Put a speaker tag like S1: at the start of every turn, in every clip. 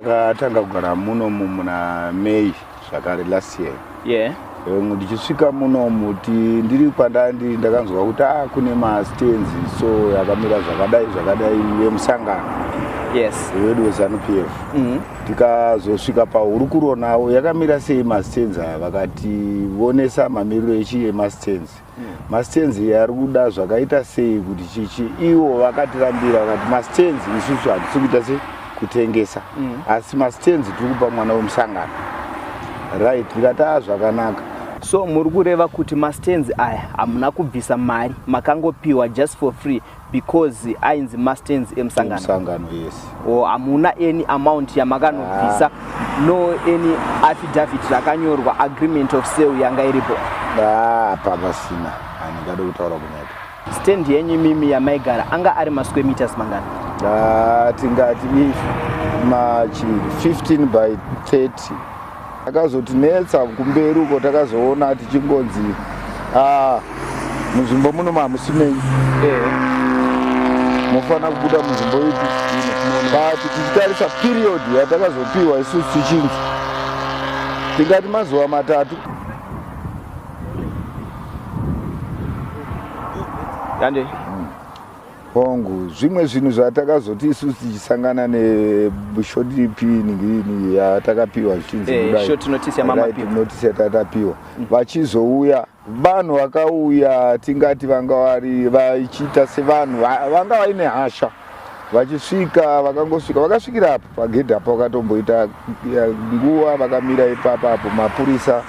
S1: Takatanga kugara munomu muna May zvakare last year. Yeah. Um,
S2: ndichisvika
S1: munomu ti ndiri kwandandi ndakanzwa kuti ah kune mastands so yakamira zvakadai zvakadai yemusangano yes
S2: wedu wezanupf
S1: mm -hmm. tikazosvika pahurukuro navo yakamira sei mastands aya vakati vonesa mamiriro echi emastands masitenzi ari kuda zvakaita sei kuti chichi ivo vakatirambira vakati masitenzi isusu hatisi kuita se kutengesa mm. asi masitenzi tiri kupa mwana wemusangano right ndikati a zvakanaka so muri
S2: kureva kuti masitenzi aya hamuna kubvisa mari makangopiwa just for free because ainzi mastands emusangano musangano yes
S1: or hamuna
S2: any amount yamakanobvisa ah. no any affidavit rakanyorwa agreement of sale yanga iripo ah, apa
S1: pasina handingade kutaura kunyepa stand yenyu
S2: mimi yamaigara anga ari masquare meters mangani ah,
S1: tingati ma 15 by 30 Akazotinetsa kumberi uko takazoona tichingonzi ah, munzvimbo muno mamusimenyi mofana kubuda munzvimbo ipi but tichitarisa period yatakazopiwa isusu tichinzi tingati mazuva matatu
S2: yande
S1: Hongu, zvimwe zvinhu zvatakazoti isusu tichisangana neshort piningini yatakapiwa zvichinzi eh, kudai short notice yamama
S2: piwa notice yatatapiwa
S1: mm. vachizouya vanhu vakauya tingati vanga vari vachiita sevanhu vanga vaine hasha vachisvika vakangosvika vakasvikira apo Pagedhi apo vakatomboita nguva vakamira ipapa apo mapurisa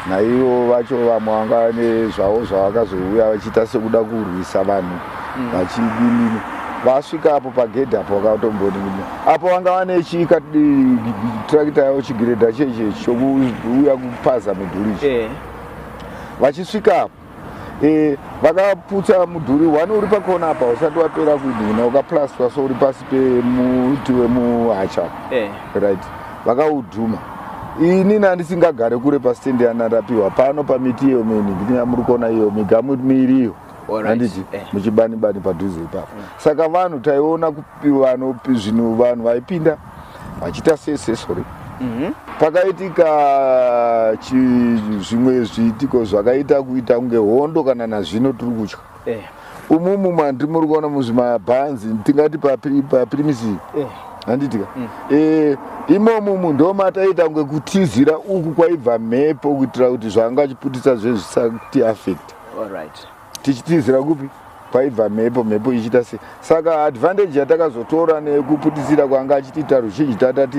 S1: naivo vacho vamwe vanga nezvavo zvavakazouya vachiita sekuda kurwisa vanhu mm. vachidinini vasvika apo pagedhi apo vakatomboni apo vanga vane chika trakita yavo chigiredha cheche chokuuya kupaza mudhuri ichi eh. vachisvika apo e, vakaputsa mudhuri one uri pakona apa usati wapera kudhina ukaplastwa so uri pasi pemuti wemuhacha eh. right vakaudhuma ini nandisingagare kure pastendi yanarapiwa pano pamiti iyo mini ndiyamuri kuona iyo migamu miiri iyo handiti eh. muchibanibani padhuze ipapo saka vanhu taiona kupiwa zvinhu vanhu vaipinda vachiita seesesori mhm. pakaitika zvimwe zviitiko zvakaita kuita kunge hondo kana nazvino tiri kutya eh. umumu mandi muri kuona muzvimabhanzi tingati papirimisi eh. handitika mm. eh, imomo munhu ndomataita kunge kutizira uku kwaibva mhepo kuitira kuti zvanga achiputisa zvezvisakuti affect tichitizira kupi kwaibva mhepo mhepo ichiita se saka advantage yatakazotora nekuputitsira kwanga achitiita ruzhinji tatati